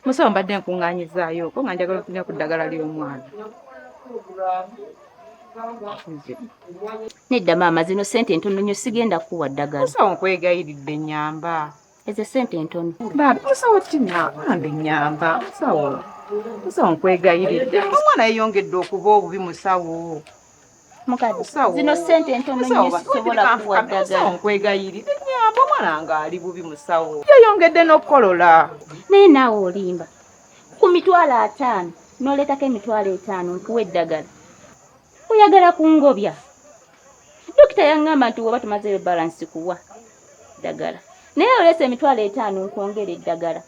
musawo mbadde nkuŋŋaanyizaayoko nga njagala ofunira ku ddagala ly'omwana nedda maama zino sente entono nyo sigenda kuwa ddagala musawo nkwegayiridde nyamba ezo sente entono bambi musawo kina bambi nyamba musawo musawo nkwegayiridde omwana yeyongedde okuba obubi musawo mukadde zino sente entono nyo sisobola kuwa ddagala nkwegayiridde nyamba omwana nga ali bubi musawo yeyongedde n'okukolola naye naawe olimba ku mitwalo ataano noleetako emitwalo etaano nkuwa eddagala oyagala kungobya Dokita yangamba nti woba tumazeyo balance kuwa dagala naye olese emitwalo etaano nkwongera eddagala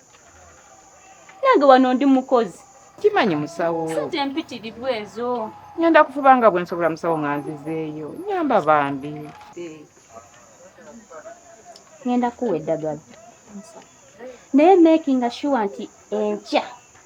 nange wano ndi mukozi kimanyi musawo sente mpitiridwa ezo ngenda kufuba nga bwensobola musawo nga nzizeeyo nyamba bambi eh. ngenda kuwa eddagala naye makinga shuwa nti enkya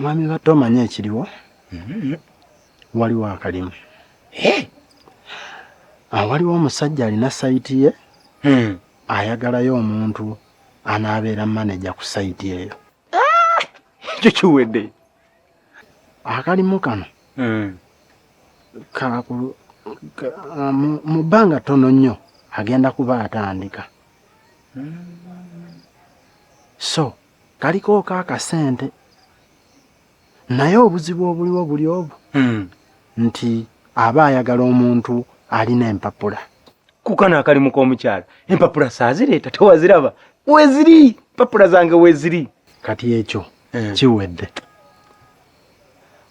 mwami batta omanyi ekiriwo mm-hmm. waliwo akalimu ah, waliwo omusajja alina sayiti ye hmm. ayagalayo omuntu anaabeera maneja ku sayiti eyo ah! ekyo kiwedde akalimu kano hmm. ah, mu bbanga ttono nnyo agenda kuba atandika hmm. so kaliko ka kasente naye obuzibu obuliwo buli obu hmm. nti aba ayagala omuntu alina empapula kukano akalimu k'omukyala empapula saazireeta tewaziraba weziri empapula zange weziri kati ekyo hmm. kiwedde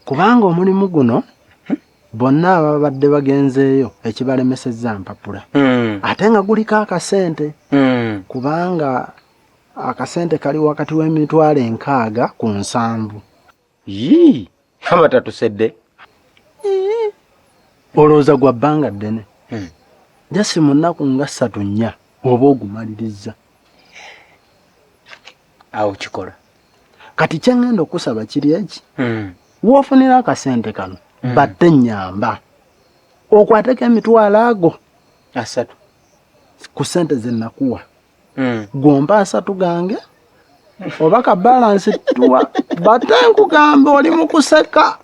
kubanga omulimu guno hmm. bonna ababadde bagenzeeyo ekibalemesezza mpapula ate nga guliko akasente kubanga akasente kali wakati w'emitwalo enkaaga ku nsanvu yii abatatusedde olowooza gwa bbanga ddene hmm. jasi mu nnaku nga ssatu nnya oba ogumaliriza awo kikola kati kyengenda okusaba kiri eki hmm. wofunira akasente kano hmm. batte nyamba okwateko emitwalo ago asatu ku sente zenakuwa mm. gomba asatu gange oba ka balansi tuwa bate nkugamba oli mu kuseka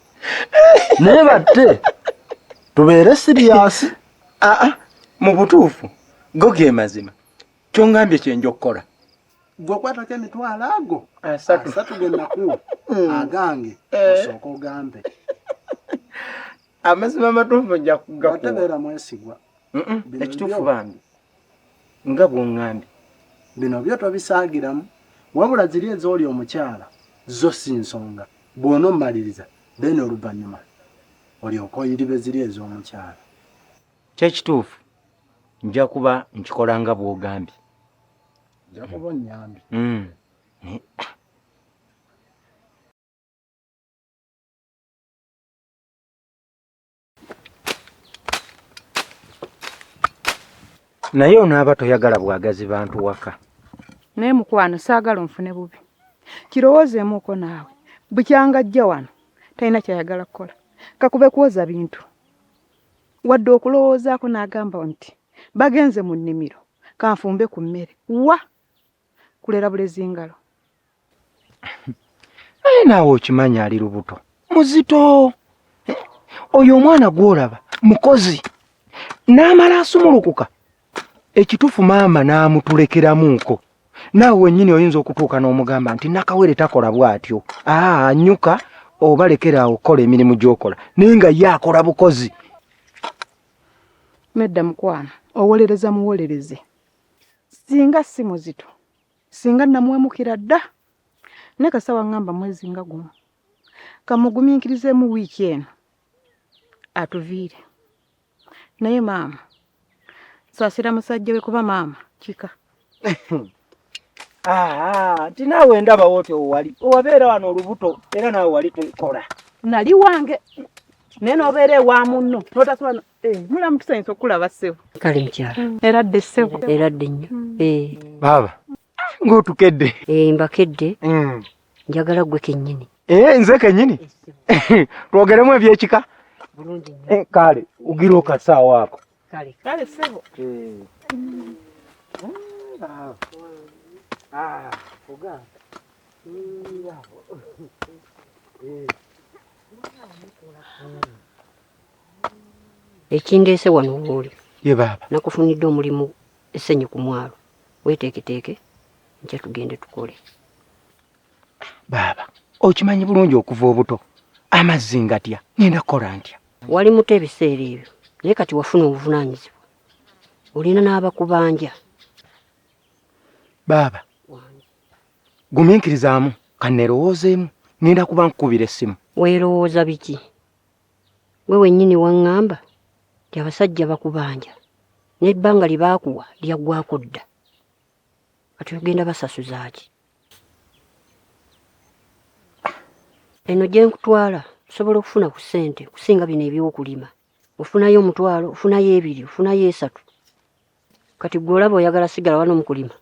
naye bate tubeere siriyasi aa ah, ah, mu butuufu go ge mazima kyongambye kyenja okukola gwe okwatako emitwalo ago asatu genakuwa mm. agange eh. osooka ogambe amazima amatuufu nja kugakuwa ekituufu bambi Nga bwongambye bino byo tobisaagiramu wabula ziri ezooli omukyala zo si nsonga bwonomaliriza then oluvanyuma olyoke oyiribe ziri ezomukyala. Kyekituufu nja kuba nkikola nga bwogambye. Nja kuba onyambye. Mm. Naye naye onaaba toyagala bwagazi bantu waka naye mukwano saagala onfune bubi kirowoozeemuuko naawe bukyanga ajja wano talina kyayagala kukola kakube kwoza bintu wadde okulowoozaako n'agamba nti bagenze mu nnimiro kanfumbe ku mmere wa kulera bulezi ngalo naye naawe okimanyi ali lubuto muzito eh, oyo omwana gwolaba mukozi n'amala asumulukuka ekitufu maama n'amutulekeramuuko naawe wennyini oyinza okutuuka n'omugamba nti nakawere takola bw'atyo aa nyuka oba lekera awo okukola emirimu gy'okola naye nga ye akola bukozi nedda mukwano owolereza muwolereze singa si muzito singa namuwemukira dda naye kasita waŋŋamba mwezi nga gumu kamugumiikirizeemu wiiki eno atuviire naye maama saasira musajja we kuba maama kika ah, nti naawe ndabawo ti owali owabeera wano olubuto era naawe wali tukola nali wange naye nobeera ewa munno notasobola Eh, mulamu tusanyusa okukulaba ssebo kale mukyala mm. eradde ssebo eradde nnyo mm. eh. baaba ng'otukedde eh, mbakedde mm. njagala gwe kennyini nze kennyini twogeremu ebyekika kale ugira okasaawa ako kale ssebo ah, ekindeese wano wooli nakufunidde omulimu essenyi ku mwalo weteeketeeke nkya tugende tukole baaba okimanyi bulungi okuva obuto amazzi ngatya ngenda kukola ntya wali muto ebiseera ebyo naye kati wafuna obuvunaanyizibwa olina n'abakubanja baaba gumiikirizaamu kannerowoozeemu ngenda kuba nkukubira essimu weerowooza biki Gwe wennyini waŋŋamba nti abasajja bakubanja n'ebbanga lye baakuwa lyaggwako dda. Kati ogenda basasuza ki? Eno gye nkutwala osobola okufuna ku ssente kusinga bino eby'okulima. Ofunayo omutwalo, ofunayo ebiri, ofunayo esatu. kati gwe olaba oyagala sigala wano mukulima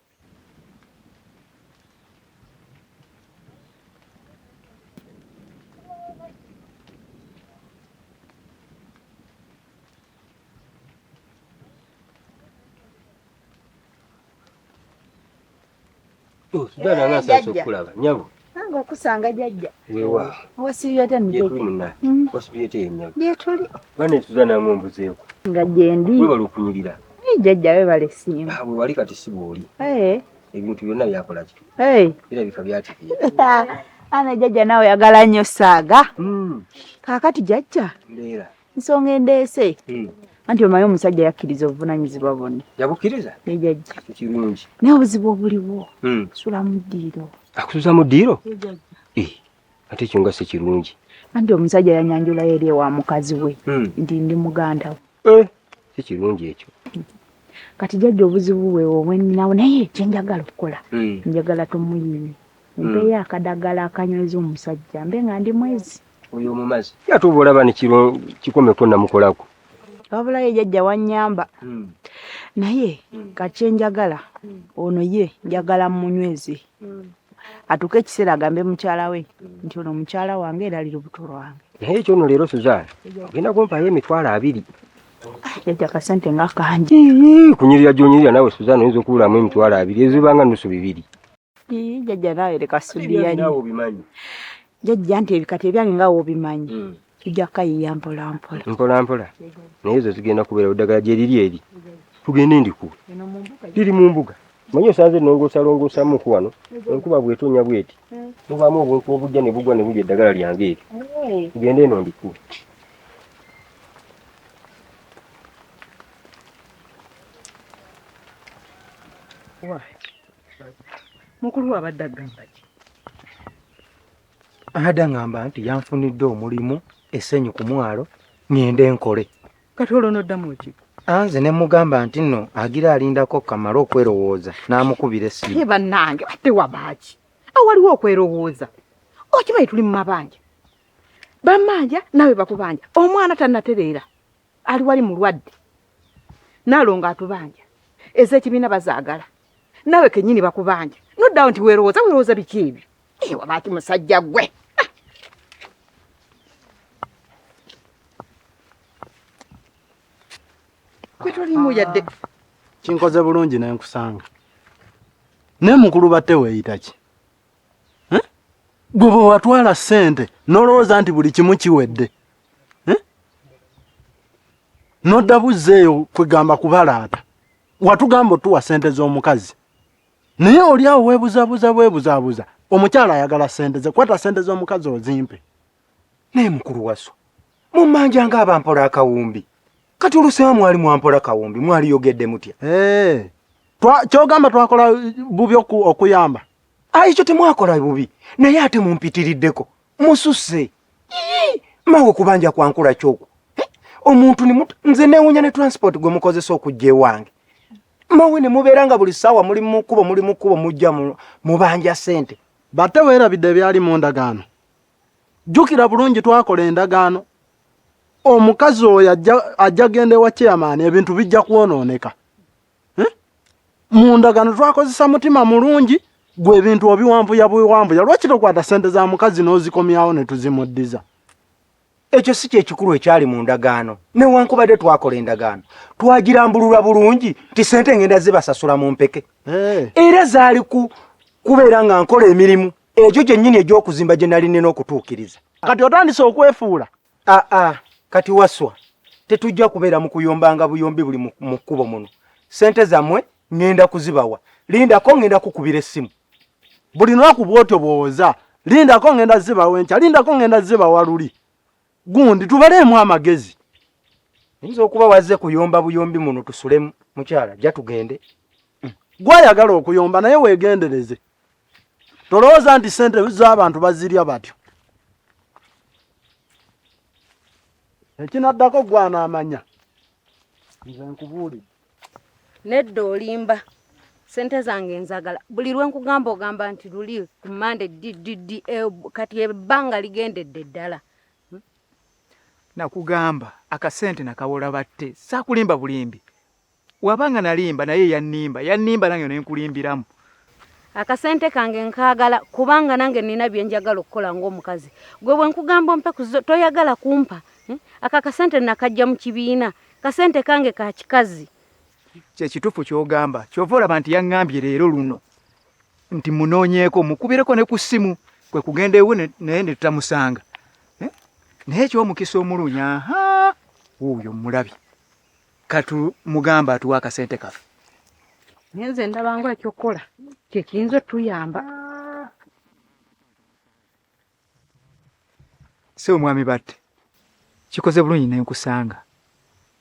Sigala nga nsasa okulaba nyabo. Nange okusanga jajja. Wewa. Wasibiyate mbi. Yetuli muna. Mm. Wasibiyate yenyabo. Yetuli. Bane tuzana mu mbuzeeko. Nga jendi. Wewa lukunyirira. Ni jajja we bale simu. Ah, wali kati sibuli. Eh. Ebintu byonna byakola ki? Eh. Bira bika byati. Ana jajja nawe yagala nnyo saaga. Mm. Kakati jajja. Ndera. nsonga endeese hmm. anti omanyi omusajja yakkiriza obuvunanyizibwa bwonna yabukkiriza ejajja kirungi naye obuzibu obuliwo hmm. sula mu ddiiro akusuza mu ddiiro eh, ate ekyo nga si kirungi anti omusajja yanyanjulayo eri ewa mukazi we hmm. nti ndi muganda we eh, si kirungi ekyo kati jajja obuzibu bwe obweninawo naye kyenjagala okukola njagala tumuyini Mumpeeyo akadagala akanyweza omusajja mbe nga ndi mwezi. Oyo omumazi. Ate oba olaba ne kiro kikomeko namukolako. Wabula ye jajja wanyamba. Mm. Naye mm. kachenjagala mm. ono ye njagala munyweze. Mm. Atuke ekiseera agambe mukyala we mm. nti ono mukyala wange era ali lubuto lwange. Naye ekyo ono leero Suzana ogenda kumpaayo emitwalo abiri. Jajja kasente nga kangi. Kunyirira gyonyirira nawe Suzana oyinza okuwulamu emitwalo abiri ezibanga nusu bibiri. jajja nawe leka sudiyanyi jajja nti ebikata ebyange nga wobimanyi hmm. tujja kukayiya mpolampola mpolampola naye ezo zigenda kubeera oddagala gyeriri eri tugende ndiku liri mu mbuga manyi osanze nongosalongosamuku wano enkuba bwetonya bweti hmm. mubamu obuntu obujja ne bugwa ne bulya eddagala lyange eri hmm. tugende eno ndiku Why? mukulu wabadde agamba ki ada ngamba nti yanfunidde omulimu esenyu ku mwalo ngende nkole kati olwo noddamu ki anze ne mugamba nti nno agira alindako kamale okwerowooza n'amukubira essimu ye bannange ate wabaaki awaliwo okwerowooza okimanyi tuli mu mabanja bamanja nawe bakubanja omwana tanatereera ali wali mulwadde nalongo atubanja ezekibiina bazaagala nawe kenyini bakubanja noddawo nti werowooza werowooza biki ebyo ewa baaki musajja gwe kwetolimu yadde ah. kinkoze bulungi nenkusanga naye mukulu batte weeyita ki eh? gwe bwe watwala ssente n'olowooza nti buli kimu kiwedde eh? nodda buzza eyo kwegamba kubalaata watugamba otuwa ssente z'omukazi naye oli awo webuzabuza bwebuzabuza omukyala ayagala ssente ze kwata ssente z'omukazi ozimpe naye mukulu waso mummanja nga abampola akawumbi kati olusewa mwali mwampola kawumbi mwaliyogedde mutya eh. kyogamba twakola bubi okuyamba ayi kyo temwakola bubi naye ate mumpitiriddeko mususse mawe kubanja kwankula kyoku omuntu nze newunya ne transport gwe mukozesa okujja ewange mawe ne mubeera nga buli ssaawa muli mukubo muli mukubo mujja mubanja sente bate weerabidde ebyali mu ndagaano jjukira bulungi twakola endagaano omukazi oyo ajja genda ewa chairman ebintu bijja kwonooneka eh? mu ndagano twakozesa mutima mulungi gwe ebintu obiwambuya bwewambuya lwaki tokwata sente za mukazi n'ozikomyawo ne tuzimuddiza ekyo si kyekikulu ekyali mu ndagaano newankubadde twakola endagaano twagirambulula bulungi nti sente ngenda zibasasula mu mpeke eh. era zaali kubeera nga nkola emirimu egyo gyennyini egy'okuzimba gye nali nina okutuukiriza kati otandise okwefuula aa ah, ah, kati waswa tetujja kubeera mu kuyombanga buyombi buli mu kkubo muno sente zamwe ngenda kuzibawa lindako ngenda kukubira essimu buli lunaku bwotyo bwowoza lindako ngenda zibawa enkya lindako ngenda zibawa luli gundi tubaleemu amagezi yinza okuba wazze kuyomba buyombi muno tusulemu mukyala ja tugende gwayagala okuyomba naye wegendereze tolowooza nti sente z'abantu bazirya batyo ekinaddako gwanaamanya nze nkubuulire nedda olimba sente zange nzagala buli lwe nkugamba ogamba nti luli ku mande ddd e, kati ebbanga ligendedde ddala hmm? nakugamba akasente nakawola batte saakulimba bulimbi waba nga nalimba naye yannimba yannimba nange nenkulimbiramu akasente kange nkaagala kubanga nange nina byenjagala okukola ngaomukazi gwe bwenkugamba ompe kuzo toyagala kumpa eh? aka kasente nakajja mu kibiina kasente kange ka kikazi kyekitufu kyogamba kyova olaba nti yaŋambye leero luno nti munoonyeeko mukubireko ne ku ssimu kwe kugenda ewe naye ne tutamusanga eh? naye ekyomukisa omulungi aha wuuyo mulabi katumugambe atuwa akasente kaffe naye nze ndabanga ekyokukola kyekiyinza otuyamba si omwami batte kikoze bulungi ne nkusanga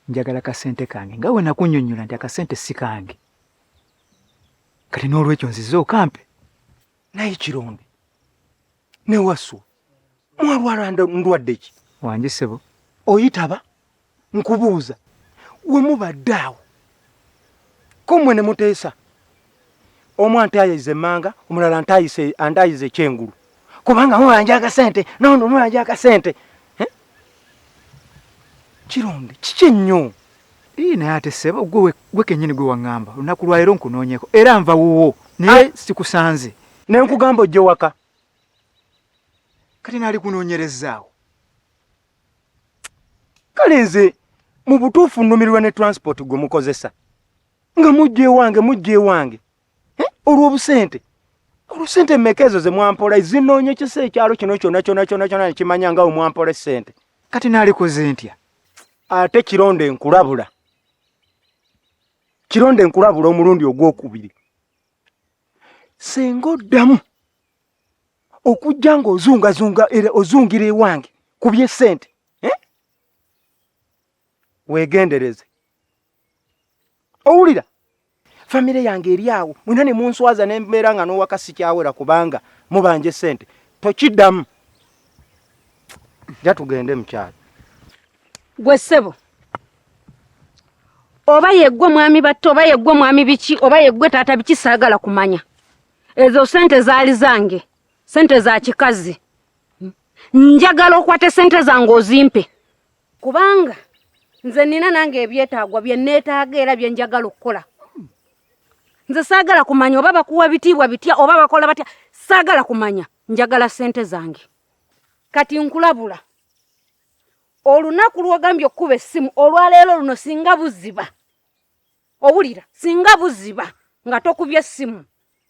njagala kasente kange nga wenakunyonyola nti akasente si kange kati n'olwekyo nzize okampe naye kirombe ne wasu mwalwala ndwadde ki wangi sebo oyitaba nkubuuza we mubadde awo ko mwe ne muteesa omu antaayiza emmanga omulala antaayiza ekyengulu kubanga mubanja akasente nono mubanja akasente eh? kironde kiki ennyo Ii naye ate ssebo gwe gwe kenyini gwe wangamba olunaku lwalero nkunonyeko era nva wuwo naye ah! sikusanze nenkugamba ojje waka kati nali kunonyerezaawo kale nze mu butuufu nnumirirwa ne transport gwe mukozesa nga mujja ewange mujja ewange eh, olw'obusente olwosente mmeka ezo ze mwampola ezinoonyecesa ekyalo kino kyona kyona kyona kyona nekimanya nga we mwampola essente kati naalikoze ntya ate kironde enkulabula kironde enkulabula omulundi ogwokubiri singa oddamu okujja nga ozungazunga era ozungira ewange ku byesente eh? wegendereze owulira famire yange eri awo mwena ne munswaza ne mbeera nga n'owaka sikyawera kubanga mubanja essente tokiddamu ja tugende mukyalo gwe ssebo oba yeggwe mwami batta oba yeggwe mwami biki oba yeggwe taata biki saagala kumanya ezo sente zaali zange sente za kikazi njagala okwate sente zange ozimpe kubanga nze nina nange ebyetaagwa bye neetaaga era bye njagala okukola nze saagala kumanya oba bakuwa bitiibwa bitya oba bakola batya saagala kumanya njagala ssente zange kati nkulabula olunaku lwogambye okukuba essimu olwaleero luno singa buziba owulira singa buziba nga tokubye essimu